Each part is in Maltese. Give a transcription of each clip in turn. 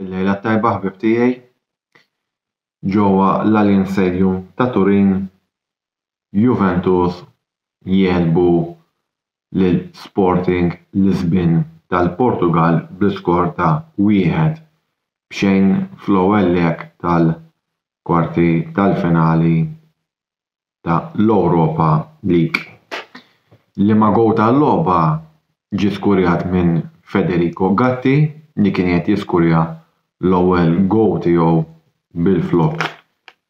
Il-lejla t-tajba ħbieb tiegħi. Ġewwa l-Allianz Stadium ta' Turin, Juventus jegħlbu lil Sporting Lisbin tal-Portugall bl-iskor ta' wieħed b'xejn fl-ewwel leg tal-kwarti tal-finali ta' l-Europa League. L-imma goal tal-logħba ġie skurjat minn Federico Gatti li kien qiegħed jiskurja l-ewwel goal tiegħu bil-flokk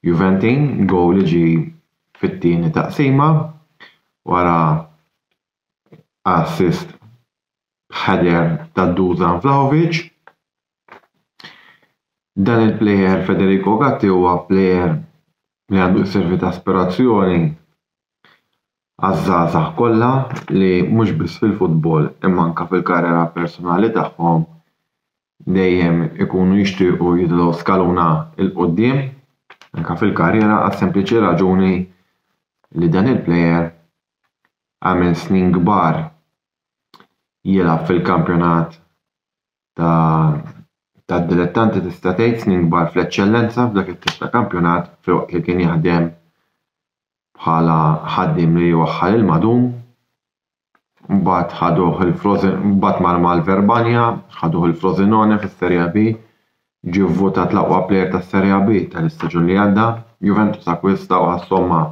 Juventin, goal li ġie fit-tieni taqsima wara assist b'header ta' Dusan Vlahovic. Dan il-plejer Federico Gatti huwa plejer li għandu jservi ta' aspirazzjoni għaż-żgħażagħ kollha li mhux biss fil-futbol imma anke fil-karriera personali tagħhom dejjem ikunu jixtiequ jidħlu skaluna 'l quddiem anke fil-karriera għas-sempliċi raġuni li dan il-plejer għamel snin kbar jilgħab fil-kampjonat tad-dilettanti tista' tgħid snin kbar fl-eċċellenza f'dak it-tip ta' kampjonat filwaqt li kien jaħdem bħala ħaddiem li jwaħħal il-madum. Mbagħad ħaduh il-Frosin- mbagħad mar mal-Verbania, ħaduh il-Frosinone fis-Serie B, ġie vvutat l-aqwa plejer tas-Serie B tal-istaġun li għadda, Juventus akkwistaw għas-somma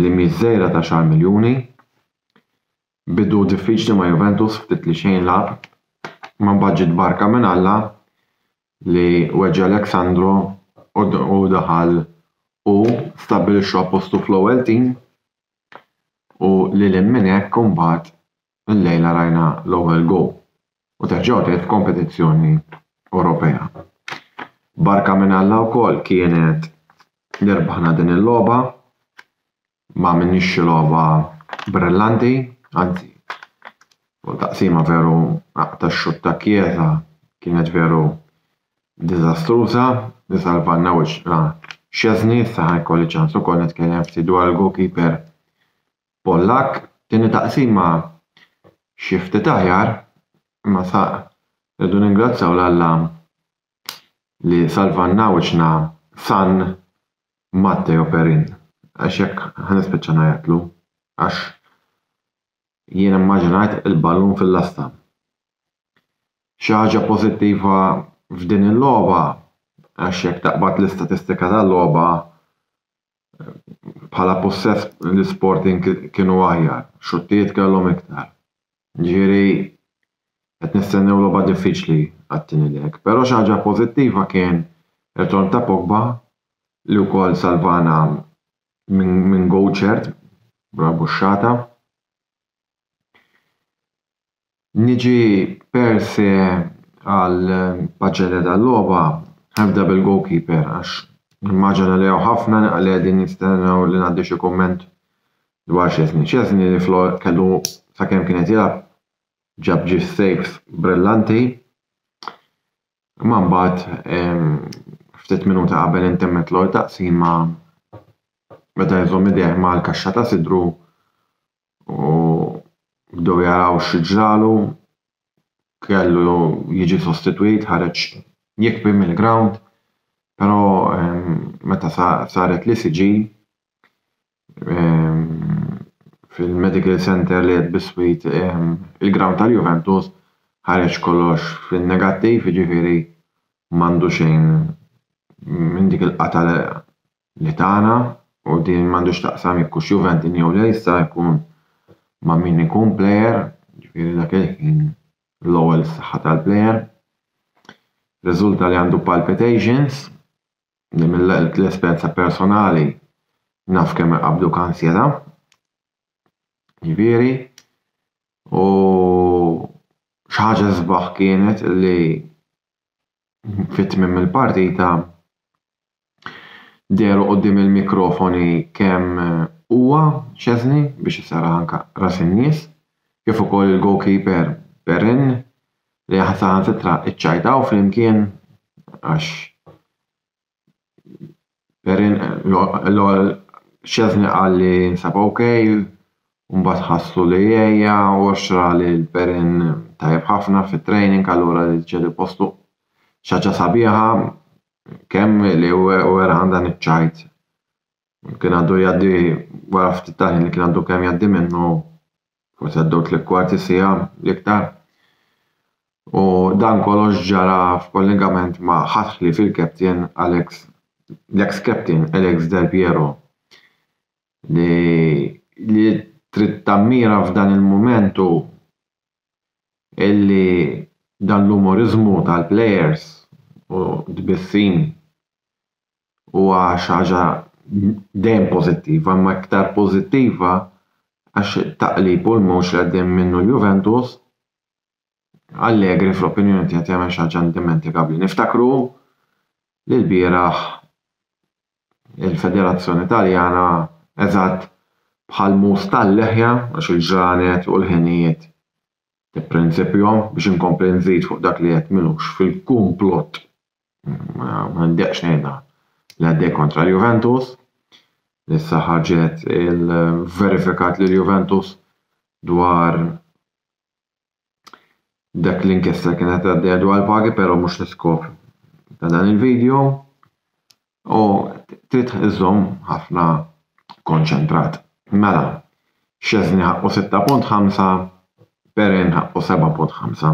li mhix żgħira ta' xahar miljuni. Bidu diffiċli ma' Juventus ftit li xejn lagħab, ma mbagħad ġiet barka minn Alla li weġġa' Alex Sandro u daħal hu stabbilixxa postu fl-ewwel tim u lil hinn minn hekk imbagħad illejla rajna l-ewwel goal u terġa' wrid f'kompetizzjoni Ewropea. Barka minn Alla wkoll kienet li rbaħna din il-logħba, ma għamilniex xi logħba brillanti, anzi fuq taqsima veru ta' xutt ta' kjeta kienet veru diżastruża, isalvanna wiċċna Szczesny, issa ħajkolli ċans ukoll nitkellem ftit dwar il-goalkeeper Pollakk, tieni taqsima xi ftit aħjar imma sa rridu ningrazzjaw 'l Alla li salvanna wiċċna San Matteo Perin għax jekk ħa nispiċċa ngħajjatlu għax jien immaġinajt il-ballun fil-lasta. Xi ħaġa pożittiva f'din il-logħba għax jekk taqbad l-istatistika tal-logħba bħala possess l-isporting kienu aħjar, xuttijiet kellhom iktar. Ġifieri qed nistennew logħba diffiċli għat-tieni leg. Però xi ħaġa pożittiva kien ir-ritorn ta' Pogba li wkoll salvana minn goal ċert, rabbuxxata. Niġi perse għal paġġeria tal-logħba nibda bil-goalkeeper għax nimmaġina li hawn ħafna li qegħdin jistennew li ngħaddi xi kumment dwar Szczesny. Szczesny li kellu sakemm kien qed jilgħab ġab ġie saves brillanti imma mbagħad ftit minuti qabel intemmet l-ewwel taqsima beda jżomm idejh mal-kaxxa ta' sidru u bdew jaraw xi ġralu, kellu jiġi sostitwit, ħareġ jikbi mill-grawnd, però meta saret l-ECG fil-medical center li qed biswit il-grawnd tal-Juventus ħareġ kollox fin-negattiv, jiġifieri m'għandu xejn minn dik il-qatgħa. li tagħna u din m'għandux x'taqsam jekk hux Juventin jew le jista' jkun ma' min ikun plejer, jiġifieri dak il-ħin l-ewwel is-saħħa tal-plejer. Riżulta li għandu palpitations li mill-esperjenza personali naf kemm iqabbduk ansjetà. Jiġifieri u xi ħaġa sbaħ kienet li fi tmiem il-partita dehru quddiem il-mikrofoni kemm huwa, Szczesny, biex isarraħ anke ras in-nies, kif ukoll il-goalkeeper Perin li saħansitra ċċajtaw flimkien għax Perin l-ewwel xeżni qal li jinsab ok, mbagħad ħassu li jgħejja u xra lil Perin tajjeb ħafna fit-training allura li ċedi postu. Xi ħaġa sabiħa kemm li wera għandha niċ-ċajt. kien għandu jgħaddi wara ftit tal-ħin li kien għandu kemm jgħaddi minnu, forsi għaddew tliet kwarti siegħa l-iktar. U dan kollox ġara f'kollegament ma' ħadd ħlief il-captain Alex l-ex captain Alex Del Piero li li trid tammira f'dan il-mument hu illi dan l-umoriżmu tal-plejers u tbissim huwa xi ħaġa dejjem pożittiva, imma iktar pożittiva għax it-taqlib u l-mewġ li għaddej minnu l-Juventus, Allegri fl-opinjoni tiegħi qed jagħmel xi ħaġa indimentikabbli. Niftakru li lbieraħ il-Federazzjoni Taljana eżatt bħall-mus tal-leħja għax il-ġranet u l-ħinijiet Prinċipju, biex inkompli nżid fuq dak li qed m'ilux fil-kumplott, ma ndeqqx ngħidha, li għaddej kontra l-Juventus, li issa ħarġet il-verifikat li l-Juventus dwar dak l-inkjesta li kienet għaddejja dwar il-pagi, però mhux l-iskop ta' dan il-video. u trid iżżomm ħafna konċentrat. Mela, Szczesny ħaqqu 6.5, Perin ħaqqu 7.5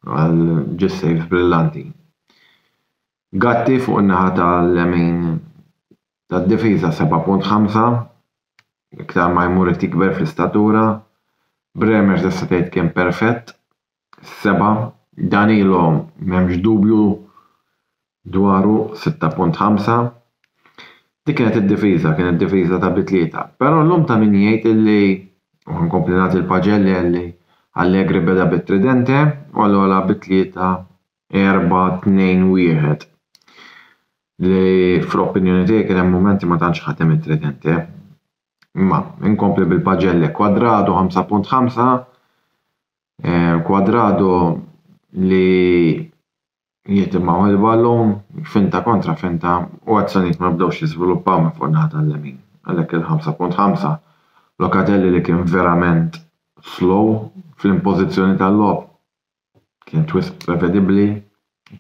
għal ġis sejf brillanti. Gatti fuq in-naħa tal-lemin tad-difiża 7.5, iktar ma jmur qed jikber fl-istatura, Bremer tista' tgħid kien perfett, Is-seba', Danilo m'hemmx dubju dwaru, 6.5. Dik kienet id-difiża, kienet difiża ta' bi tlieta. Però llum ta' min jgħid illi, u ħa nkompli nagħti l-paġelli għalli Allegri beda bit-tridente u allura lagħab bi tlieta, erbgħa, tnejn, wieħed. Li fl-opinjoni tiegħi kien hemm mumenti ma tantx ħadem it-tridente. Imma, inkompli bil-paġelle, Cuadrado 5.5, eh, Cuadrado li jieħdem ma' il-ballun, finta kontra finta u azzjonijiet ma bdewx jiżviluppaw minn fuq naħa tal-lemin. Għalhekk il-5.5 Locatelli li kien verament slow fl-impożizzjoni tal-logħob kien twist prevedibbli,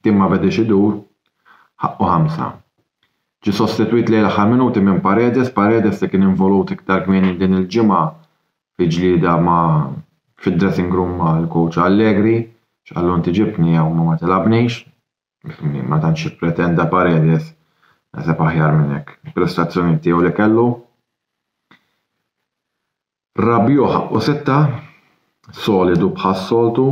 tim ma bediex idur, ħaqqu ħamsa. Ġi sostitwit lejn l-aħħar minuti minn Paredes, Paredes li kien involut iktar kmieni din il-ġimgħa fi ġlieda ma' fid-dressing room mal-coach Allegri, x'qallu inti ġibtni hawn ma ma tilgħabnix, ma tantx ippretenda Paredes, naħseb aħjar minn hekk, il-prestazzjonijiet tiegħu li kellu. Rabiot ħaqqu sitta, solidu bħas-soltu,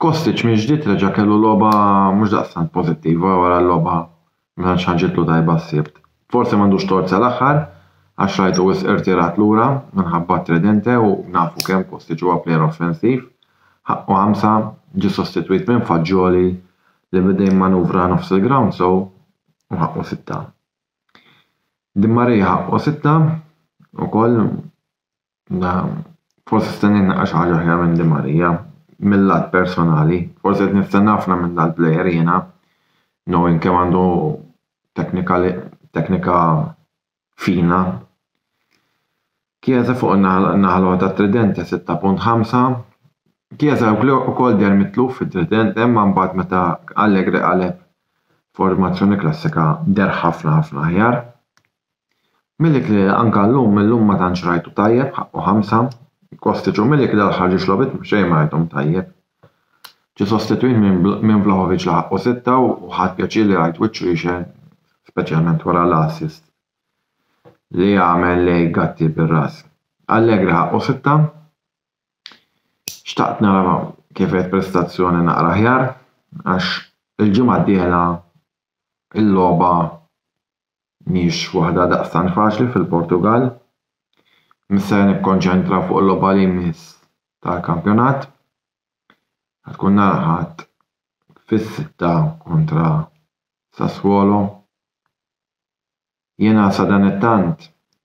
Kostic mill-ġdid reġa' kellu logħba mhux daqstant pożittiva wara l-logħba ma tantx ħarġitlu tajba s-Sibt. Forsi m'għandux tort sal-aħħar għax rajtu wisq irtirat lura minħabba t-tridente u nafu kemm Kostic huwa plejer offensiv. Ħaqqu ħamsa, ġie sostitwit minn Fagioli li beda jimmanuvra nofs il-grawnd sew u ħaqqu sitta. Di Maria ħaqqu sitta ukoll. Forsi se stenni naqra xi ħaġa aħjar minn Di Maria, mill-lat personali. Forsi qed nistenna ħafna minn dal-plejer jiena, knowing kemm għandu teknika fina. Chiesa fuq in-naħa l-oħra tat-trident ta' 6.5. Chiesa wkoll deher mitluf fit-trident, imma mbagħad meta Allegri qaleb formazzjoni klassika deher ħafna ħafna aħjar. Milik li anka llum illum ma tantx rajtu tajjeb ħaqqu ħamsa, Kostic u Milik li l-aħħar ġiex logħbiet xejn ma rajthom tajjeb. Ġie sostitwit minn Vlahovic li ħaqqu sitta u ħadt pjaċir li rajt wiċċu jixgħel speċjalment wara l-assist li għamel lejn Gatti bir-ras. Allegri ħaqqu sitta, xtaqt nara kif għedt prestazzjoni naqra aħjar għax il-ġimgħa d-dieħla l-logħba mhijiex waħda daqstant faċli fil-Portugall. Mhux se nikkonċentra fuq il-logħba li jmiss tal-kampjonat. Ħad tkun nalħat fis-sitta kontra Sassuolo. Jiena sadanittant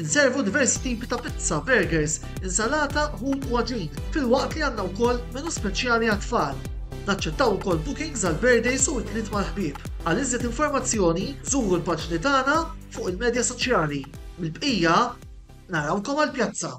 Inservu diversi tipi ta' pizza, burgers, insalata, ħut u għaġin, filwaqt li għandna wkoll menu speċjali għat-tfal. Naċċettaw ukoll bookings għal birthdays u għitliet mal-ħbieb. Għal iżjed informazzjoni, żuru l-paġni tagħna fuq il-medja soċjali. Mill-bqija, narawkom għall-pjazza!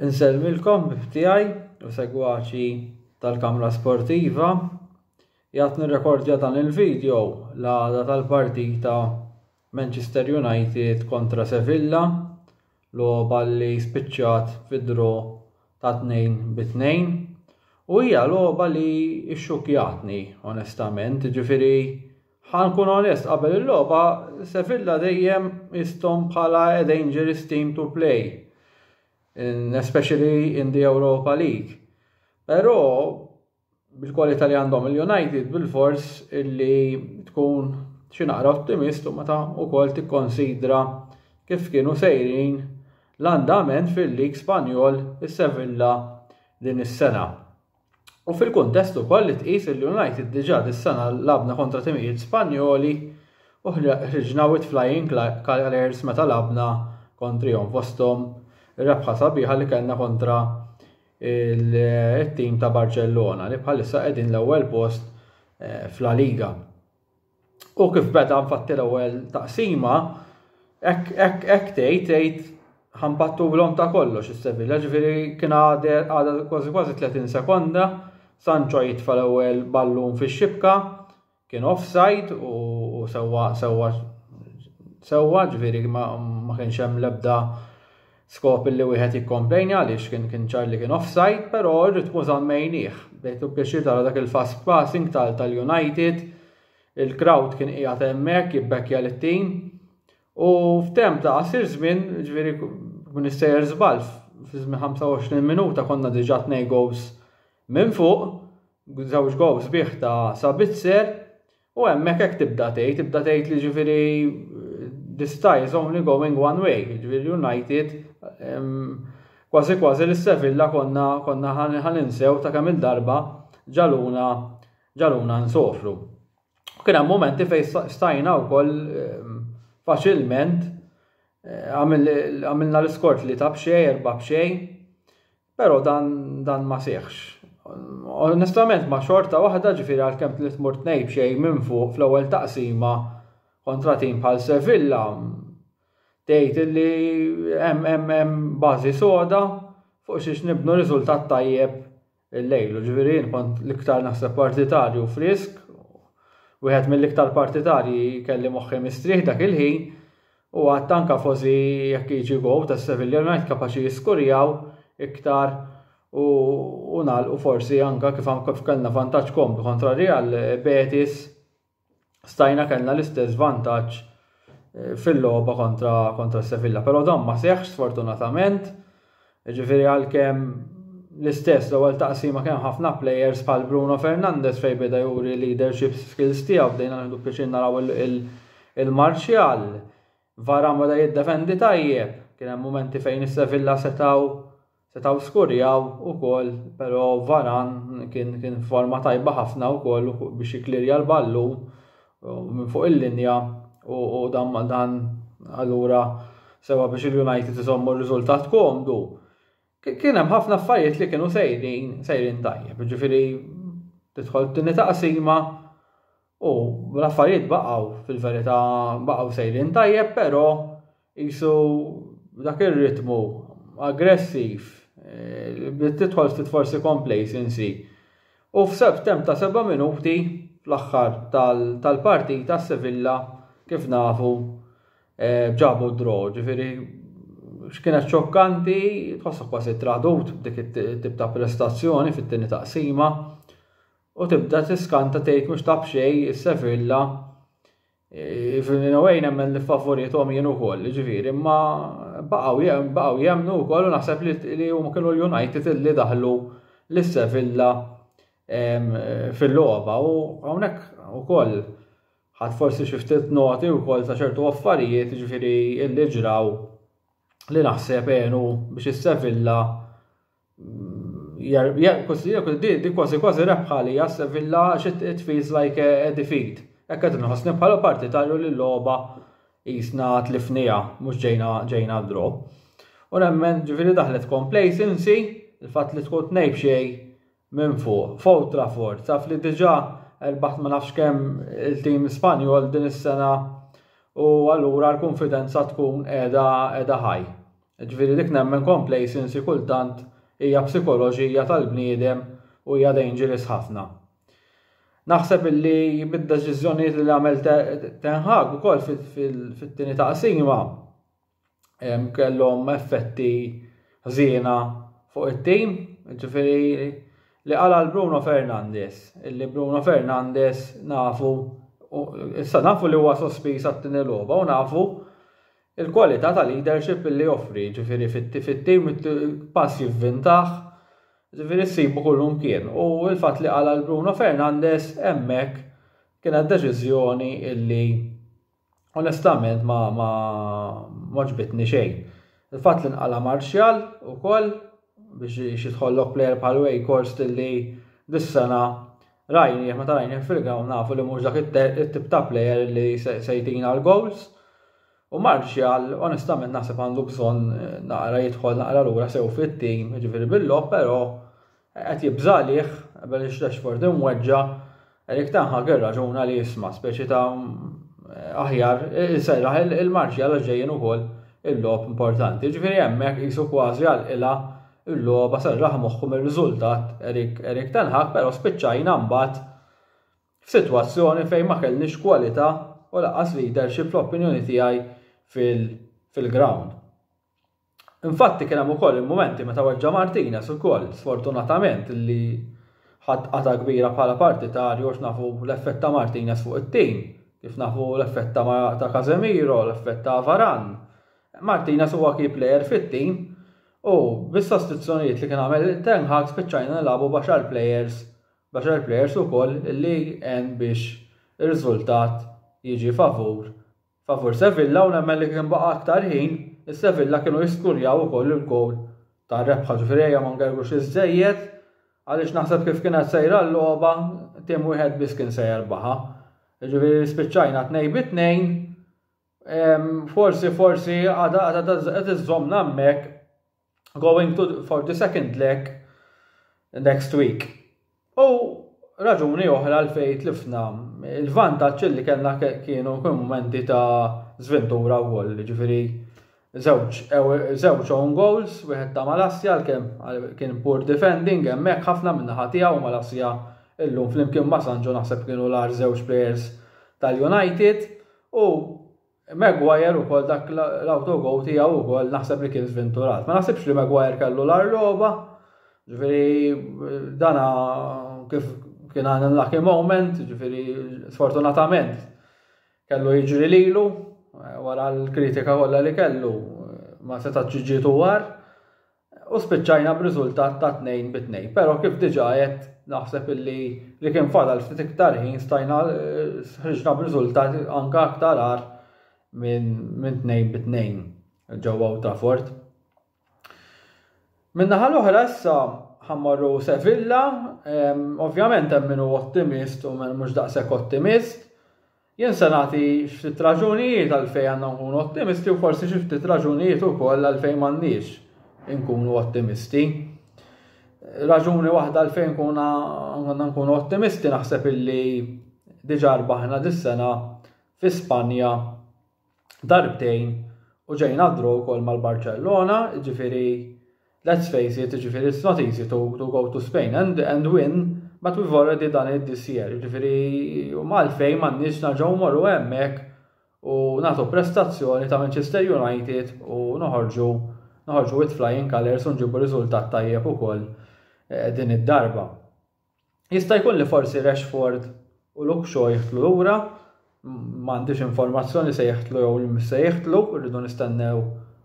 Insellmilkom b'tiegħi u segwaċi tal-Kamra Sportiva. Jgħat nirrekordja dan il-video l-għada tal-partita Manchester United kontra Sevilla, logħba li spiċċat fi draw ta' 2 bi 2 u hija logħba li xxukjatni onestament, ġifieri ħa nkun onest qabel il-logħba Sevilla dejjem istom bħala a dangerous team to play, in, especially in the Europa League. Però bil-kwalità li għandhom il-United bil-fors illi tkun xi naqra ottimist u meta wkoll tikkonsidra kif kienu sejrin l-andament fil-lig Spanjol is-Sevilla din is-sena. U fil-kuntest ukoll li tqis il-United diġà dis-sena labna kontra timijiet Spanjoli u ħriġna with flying colours meta labna kontrihom fosthom ir-rebħa sabiħa li kellna kontra il-tim ta' Barcellona li bħalissa qegħdin l-ewwel post eh, fla Liga. U kif beda nfatti l-ewwel taqsima, hekk tgħid tgħid ħambattu l-om ta' kollox is-Sevilla, ġifieri kien għadha kważi kważi 30 sekonda, Sancho jitfa' l-ewwel ballun fix-xibka, Kien offside u sewwa sewwa sewwa ġifieri ma, ma kienx hemm l-ebda skop li wieħed jikkomplejni għaliex kien kien ċar li kien offside, però r-ritmu żammejnieh. Bdejtu pjaċir tara dak il-fast passing tal tal-United, il-crowd kien qiegħed hemmhekk jibbekkja lit-tim u f'temp ta' qasir żmien ġifieri kun issejjer żball fi żmien 25 minuta konna diġà tnej goals minn fuq żewġ gowl sbieħ ta' Sabitzer u hemmhekk hekk tibda tgħid, tibda tgħid li ġifieri this tie is only going one way, ġifieri United kważi kważi li Sevilla konna konna ħaninsew ta' kemm il-darba ġaluna ġaluna nsofru. Kien hemm momenti fejn stajna wkoll faċilment għamilna l-iskort li ta' b'xej, erba' b'xej, Però dan dan ma seħħx. Onestament ma xorta waħda ġifieri għalkemm tliet mur tnej b'xejn minn fuq fl-ewwel taqsima kontra tim bħal Sevilla tgħid li hemm hemm hemm bażi soda fuq xiex nibnu riżultat tajjeb illejlu. Ġifieri jien kont l-iktar naħseb partitarju frisk wieħed mill-iktar partitarji kelli moħħi mistrieħ dak il-ħin U għad anke fosi jekk jiġi gowl ta' Sevilla United kapaċi jiskurjaw iktar u u nagħlqu forsi anke kif kif kellna vantaġġ komdu kontra Real Betis stajna kellna l-istess vantaġġ eh, fil-logħba kontra kontra Sevilla. Però dan ma seħħx sfortunatament Jiġifieri għalkemm l-istess l-ewwel taqsima kien hemm ħafna players bħal Bruno Fernandes fejn beda juri leadership skills tiegħu bdejna nieħdu pjaċir naraw il-Martial. Varan beda jiddefendi tajjeb, kien hemm mumenti fejn is-Sevilla setgħu setgħu skurjaw ukoll, però Varan kien kien forma tajba ħafna wkoll biex jiklirja l-ballun minn fuq il-linja u dan dan allura sewa biex il-United iżommu r-riżultat komdu. Kien hemm ħafna affarijiet li kienu sejrin sejrin tajjeb, ġifieri tidħol tini taqsima u l-affarijiet baqgħu fil-verità baqgħu sejrin tajjeb, però Qisu dak ir-ritmu aggressiv bdiet tidħol ftit forsi complacency. U f'temp ta' seba' minuti fl-aħħar tal-partita s-Sevilla kif nafu ġabu d-draw, ġifieri x'kienet xokkanti tħossok kważi tradut b'dik it-tip ta' prestazzjoni fit-tieni taqsima u tibda tiskanta tgħid mhux ta' b'xejn is-Sevilla Fil-minawaj nemmen li favorithom jien ukoll, ġifieri, imma baqgħu jem, baqgħu jemnu wkoll u naħseb li huma kienu l-United li daħlu lis-Sevilla fil-logħba u hawnhekk ukoll ħadd forsi xi ftit noti wkoll ta' ċertu affarijiet ġifieri li ġraw li naħseb għenu biex is-Sevilla di kważi kważi rebħa li jas Sevilla it feels like a defeat. Ekk qed nħossni bħala partitarju li l-logħba jisna tlifnija mhux ġejna ġejna draw. U nemmen ġifieri daħlet complacency il-fatt li tkun tnejb xej minn fuq. Fow Trafford taf li diġà erbaħt ma nafx kemm il-tim Spanjol din is-sena u allura l-konfidenza tkun qiegħda qiegħda ħaj. Jiġifieri dik nemmen complacency kultant hija psikoloġija tal-bniedem u hija dangerous ħafna. Naħseb illi mid-deċiżjonijiet li għamel Ten Hag ukoll fit-tieni taqsima kellhom effetti ħżiena fuq it-tim, ġifieri li qala l-Bruno Fernandes, illi Bruno Fernandes nafu issa nafu li huwa sospiż għat-tieni logħba u nafu Il-kwalità ta' leadership li joffri, jiġifieri fit-tim pass jivvintah, jiġifieri ssibu kullimkien. U l-fatt li qala' 'l Bruno Fernandes hemmhekk kienet deċiżjoni li onestament ma għoġbitni xejn. Il-fatt li nqala' Martial ukoll biex jitħollok plejer bħal Weghorst li dis-sena rajni, meta rajni fil-ground nafu li mhux dak it-tip ta' plejer li se jtina l-goals. U Martial, onestament naħseb għandu bżonn eh, naqra jidħol naqra lura sew fit-tim, ġifieri bil-lob, però qed jibżalih, bel Rashford imweġġa, Eric Ten Hag irraġuna li jisma' speċi ta' aħjar iserraħ il-Martial għax ġejjin ukoll il-logħob importanti. Ġifieri hemmhekk qisu kważi għal qilha l-logħba serraħ moħħu mir-riżultat Eric Eric Ten Hag però spiċċajna mbagħad f'sitwazzjoni fejn ma kellniex kwalità u lanqas leadership fl-opinjoni tiegħi fil-ground. Infatti kien hemm ukoll il-mumenti meta weġġa' Martinez ukoll, sfortunatament, li ħadd qatgħa kbira bħala partitarju għax nafu l-effett ta' Martinez fuq it-tim, kif nafu l-effett ta' ta' Casemiro, l-effett ta' Varane. Martinez huwa key player fit-tim u bis-sostituzzjonijiet li kien għamel Ten Hag spiċċajna nilagħbu b'għaxar players, b'għaxar players ukoll li għen biex ir-riżultat jiġi favur favur Sevilla u nemmen li kien baqa' aktar ħin is-Sevilla kienu jiskurjaw ukoll il-gowl tar-rebħa ġifieri ejja ma ngergrux iżżejjed għaliex naħseb kif kienet sejra l-logħba tim wieħed biss kien se jerbaħha. Ġifieri spiċċajna tnej bi tnejn forsi forsi għadha qed iżżommna hemmhekk going to for the second leg next week. U raġuni oħra l fejt tlifna il-vantaġġ li kellna kienu momenti ta' zventura wkoll, ġifieri żewġ own goals, wieħed ta' Malassja għalkemm kien poor defending hemmhekk ħafna minna naħa tiegħu Malassja illum flimkien ma' Sanġo naħseb kienu l-ar żewġ players tal-United u Maguire ukoll dak l-autogow tiegħu ukoll naħseb li kien żventurat. Ma naħsibx li Maguire kellu l-arroba, ġifieri dana kif kien għan lucky moment, ġifiri, sfortunatament, kellu jiġri lilu, eh, wara l-kritika kollha li kellu, eh, ma seta ġiġitu war, U spiċċajna b'riżultat ta' tnejn bi tnejn. Però kif diġà għedt naħseb illi li kien fadal ftit iktar ħin stajna eh, ħriġna b'riżultat anke aktar għar minn tnejn bi tnejn ġewwa ta' fort. Minnaħa l-oħra issa ħammarru Sevilla, ovvjament hemm minnu ottimist u mhux daqshekk ottimist. Jien se nagħti ftit raġunijiet għalfejn għandna nkunu ottimisti u forsi xi ftit raġunijiet ukoll għalfejn m'għandniex inkunu ottimisti. Raġuni waħda għalfejn kuna għandna nkunu ottimisti naħseb illi diġà rbaħna dis-sena fi Spanja darbtejn u ġejna draw ukoll mal-Barcellona, ġifiri let's face it, ġifiri it's not easy to, to go to Spain and, and win, but we've already done it this year, ġifiri u malfej mannix naġaw morru emmek u natu prestazzjoni ta' Manchester United u noħorġu noħorġu with flying colors u nġibu riżultat tajjeb ukoll eh, din id-darba. Jista' jkun li forsi Rashford u Luke Shaw jidħlu lura, m'għandix informazzjoni se jidħlu jew li mhux se jidħlu, rridu nistennew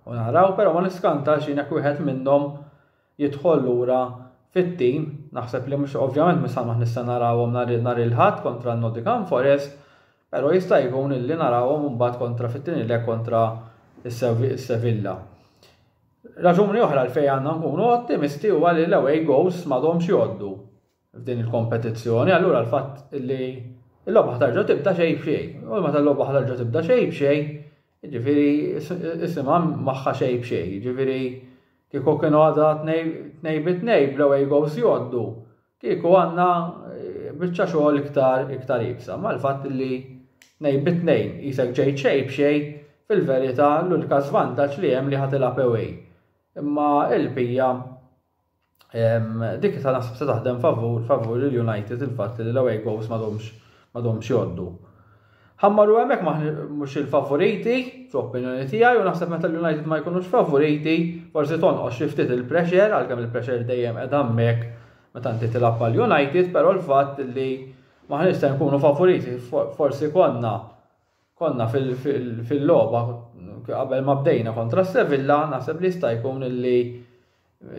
u naraw, però ma niskantax jien jekk wieħed minnhom jidħol lura fit-tim, naħseb li mhux ovvjament mhux samaħ nista' narawhom nhar il-Ħadd kontra Nottingham Forest, però jista' jkun li narawhom imbagħad kontra fit-tieni leg kontra s-Sevilla. Raġuni oħra għalfejn għandna nkunu ottimisti huwa li l-away goals m'għadhomx jgħoddu f'din il-kompetizzjoni, allura l-fatt li l-logħba ħtarġa tibda xejn b'xejn. U meta l-logħba ħtarġa tibda xejn b'xejn, ġifiri isimha magħha xejn b'xejn, ġifiri kieku kienu għadha tnej bit-tnej bl-away goals jgħoddu, Kieku għandna eh, biċċa xogħol iktar iktar ibsa, mal-fatt li nej bitnejn jisek ġejt xej b'xej fil-verità l-ulka żvantaġġ li hemm li ħatilha pewej. Imma il-pija dik ta' nasib se taħdem favur favur il-United il-fatt li l-away goals ma domx joddu. Ħammaru hemmhekk mhux il-favoriti, fl-opinjoni tiegħi, u naħseb meta l-United ma jkunux favoriti, forsi tonqos xi ftit il-pressure, għalkemm il-pressure dejjem qed hemmhekk meta inti tilgħab għal United, però l-fatt li maħniex se nkunu favoriti, forsi konna konna fil-logħba qabel ma bdejna kontra Sevilla, naħseb li jista' jkun li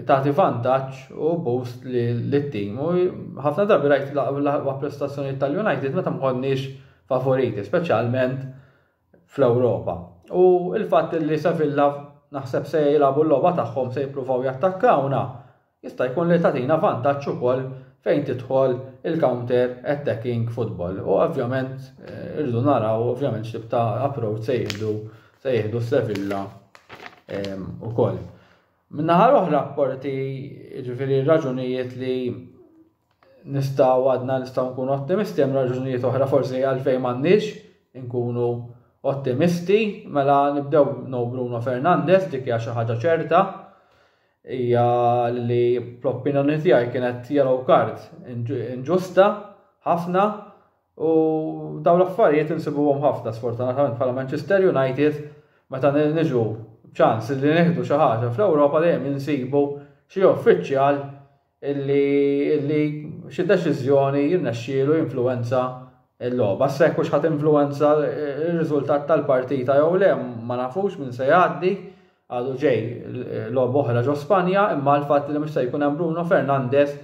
tagħti vantaġġ u boost lit-tim. U ħafna drabi rajt l-aqwa prestazzjonijiet tal-United meta mħonniex favoriti, speċjalment fl-Ewropa. U il-fatt li Sevilla naħseb se jilagħbu l-logħba tagħhom se jippruvaw jattakkawna, jista' jkun li tagħtina vantaġġ ukoll fejn tidħol il-counter attacking football. U ovvjament eh, irridu naraw ovvjament x'tib ta' approach se jieħdu se jieħdu Sevilla ehm, ukoll. Min-naħa l-oħra apporti, jiġifieri raġunijiet li nistgħu għadna nistgħu nkunu ottimisti, hemm raġunijiet oħra forsi għalfejn m'għandniex inkunu ottimisti, mela nibdew no Bruno Fernandez dik hija xi ħaġa ċerta hija li fl-opinjoni tiegħi kienet yellow card inġusta ħafna U dawn l-affarijiet insibuhom ħafna sfortunatament bħala Manchester United meta niġu ċans li nieħdu xi ħaġa fl-Ewropa dejjem insibu xi uffiċjal illi illi xi deċiżjoni jirnexxielu jinfluwenza l-logħba. Sekk hux ħadd influwenza r-riżultat tal-partita jew le ma nafux minn se jgħaddi għadu ġej logħba oħra ġo Spanja imma l-fatt li mhux se jkun hemm Bruno Fernandez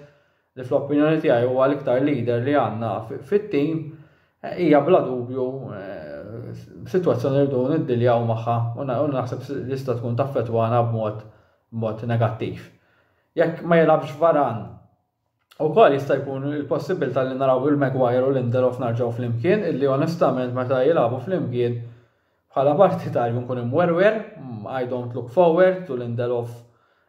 li fl-opinjoni tiegħi huwa l-iktar leader li għandna fit-tim, eh, hija bla dubju eh, situazzjoni li dun id-diljaw maħħa u naħseb li sta tkun taffetwana b'mod b'mod negattiv. Jekk ma jilabx varan U kol jista' jkun il-possibilità li naraw il-Maguire u Lindelof narġaw fl-imkien, illi onestament meta jilabu fl-imkien Bħala parti ta' Jkun Imwerwer, I don't look forward to Lindelof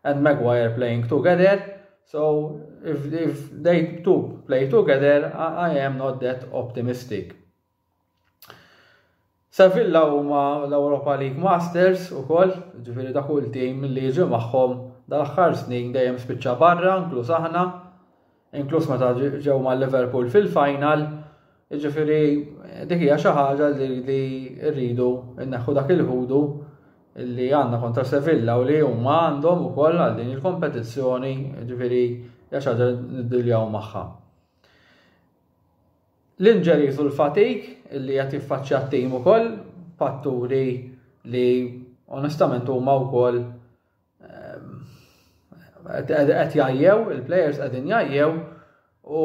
and Maguire playing together, so if, if they two play together, I, I am not that optimistic. Sevilla huma l-Europa League Masters u koll, ġifiri da kull tim li ġi maħħom dal-axħar snin dejjem spiċċa barra, inkluż aħna, inkluż meta ġew ma' Liverpool fil-final, ġifiri dik hija xi ħaġa li rridu nneħħu dak il-ħudu li għandna kontra Sevilla u li huma għandhom ukoll għal din il-kompetizzjoni, ġifiri hija xi ħaġa niddiljaw magħha. L-injuries u l-fatik li qed jiffaċċja t-tim ukoll fatturi li onestament huma wkoll Qed jajjew, il-players qegħdin jajjew u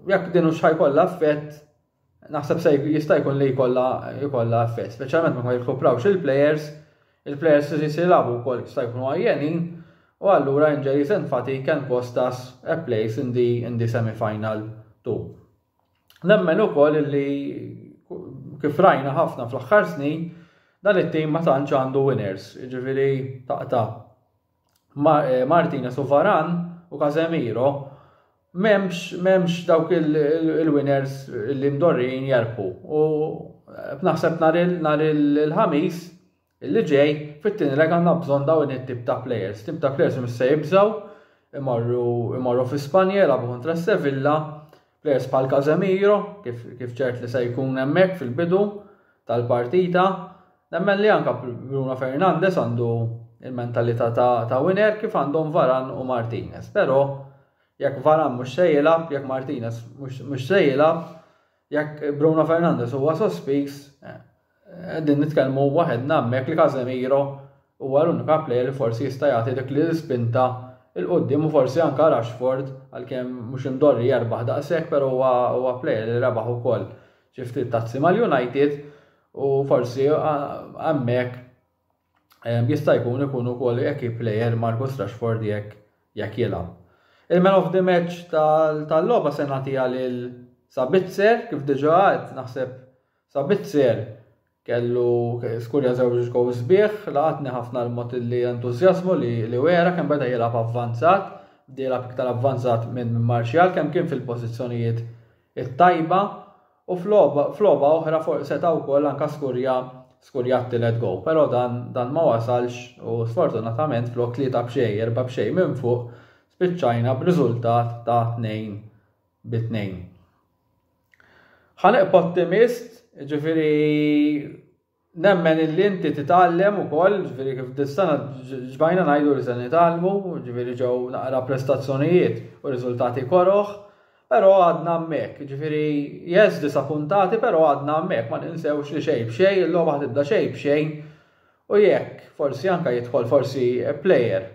jekk din hux ħajkollha effett naħseb se jista' jkun li jkollha jkollha effett, speċjalment ma jirkuprawx il-players, il-players li jisilabu wkoll jista' jkunu għajjenin u allura injuries and fatigue can cost us a place in the, in the semi-final too. Nemmen ukoll li kif rajna ħafna fl-aħħar snin dan it-tim ma tantx għandu winners, ġifieri taqta' eh, Martinez u Varan u Casemiro memx, memx dawk il-winners li mdorrin jarpu. U eh, naħseb nar il-ħamis Li ġej, fit-tieni leg għandna bżonn dawn it-tip ta' plejers. Tip ta' plejers mhux se jibżgħu imorru imorru fi Spanja jilagħbu kontra Sevilla, plejers bħal Casemiro, kif, kif ċert li se jkun hemmhekk fil-bidu tal-partita. Nemmen li anka Bruno Fernandez għandu il-mentalità ta', ta winner kif għandhom Varan u Martinez. Però jekk Varan mhux se jilgħab, jekk Martinez mhux se jilgħab, Jekk Bruno Fernandez huwa sospiż, qegħdin eh, nitkellmu waħed nammek li Casemiro huwa l-unika play li forsi jista' jagħti dik li spinta il qudiem u forsi anka Rashford għalkemm mhux imdorri jerbaħ daqshekk però huwa play li rebaħ ukoll xi ftit tazzi mal-United u forsi hemmhekk Jista' jkun ikun ukoll jekk plejer Marcus Rashford jekk jekk jilgħab. Il-man of the match tal-logħba se nagħtiha lil Sabitzer kif diġà għedt naħseb Sabitzer kellu skurja żewġ gow sbieħ laqatni ħafna l-mod li entużjażmu li li wera kemm beda jilgħab avvanzat, bda jilgħab iktar avvanzat minn Martial kemm kien fil-pożizzjonijiet it-tajba U f'logħba oħra seta' wkoll anke skurja skurja t-tielet goal però dan dan ma wasalx u sfortunatament flok tlieta b'xejn erba' b'xejn minn fuq spiċċajna b'riżultat ta' tnejn bi tnejn. Ħa neqpa' ottimist, jiġifieri Nemmen illi inti titgħallem ukoll, ġifieri kif dis-sena ġbajna ngħidu li se nitgħallmu, ġifieri ġew naqra prestazzjonijiet u riżultati koroh, però għadna hemmhekk, ġifieri yes disa' puntati però għadna hemmhekk, ma ninsewx li xejn b'xejn il-logħba ħa tibda xejn b'xejn u jekk forsi anke jidħol forsi player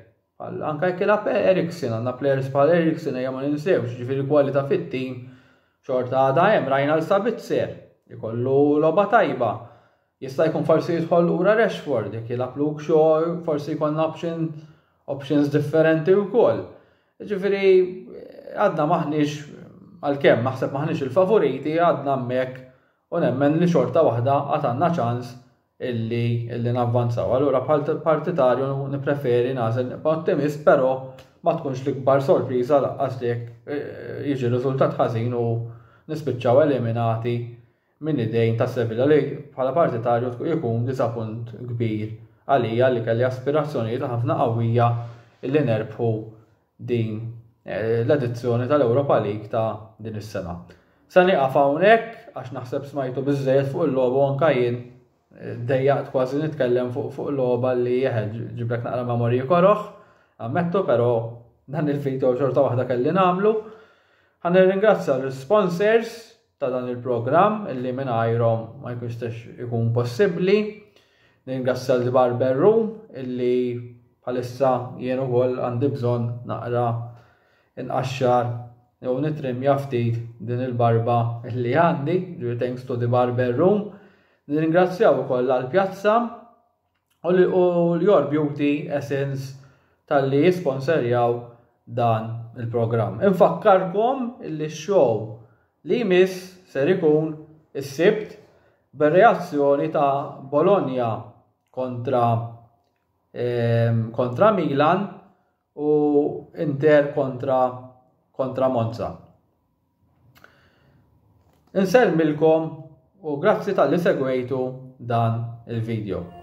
Għal anke jekk ilgħab Eriksen, għandna players bħal Eriksen ejja ma ninsewx, ġifieri kwalità fit-tim xorta għadha hemm rajna l Sabitzer ikollu logħba tajba. Jista' jkun forsi jidħol lura Rashford jekk jilgħab Luke Shaw forsi jkollna option options differenti wkoll. Ġifieri għadna maħniex għalkemm naħseb maħniex il-favoriti għadna hemmhekk u nemmen li xorta waħda għad għandna ċans illi illi navvanzaw. Allura bħal partitarju nippreferi nagħżel nibqa' ottimist, però ma tkunx l-ikbar sorpriża laqqas li jekk eh, jiġi riżultat ħażin u nispiċċaw eliminati minn idejn ta' Sevilla li bħala partitarju jkun diżapunt kbir għalija li kelli aspirazzjonijiet ħafna qawwija illi nerbħu din eh, l-edizzjoni tal-Europa League ta' din is-sena. Se nieqaf hawnhekk għax naħseb smajtu biżejjed fuq il-logħba anka jien eh, dejjaqt kważi nitkellem fuq fuq logħba li jeħed ġiblek naqra memorji koroħ, ammettu però dan il-video xorta waħda kelli nagħmlu. Ħan nirringrazzja l-sponsors ta' dan il-programm li mingħajrhom ma jkunx jistax ikun possibbli. Ningrazzja l Barber Room illi bħalissa jien ukoll għandi bżonn naqra inqaxxar jew nitrimja ftit din il-barba li għandi, ġifieri thanks to the barber room. Nirringrazzjaw ukoll għall-pjazza u l-Your Beauty Essence tal-li jisponserjaw dan il-programm. Infakkarkom li x-show li jmiss ser ikun is-sibt bir-reazzjoni ta' Bologna kontra ehm, kontra Milan u Inter kontra kontra Monza. Insellmilkom u grazzi tal-li segwejtu dan il-video.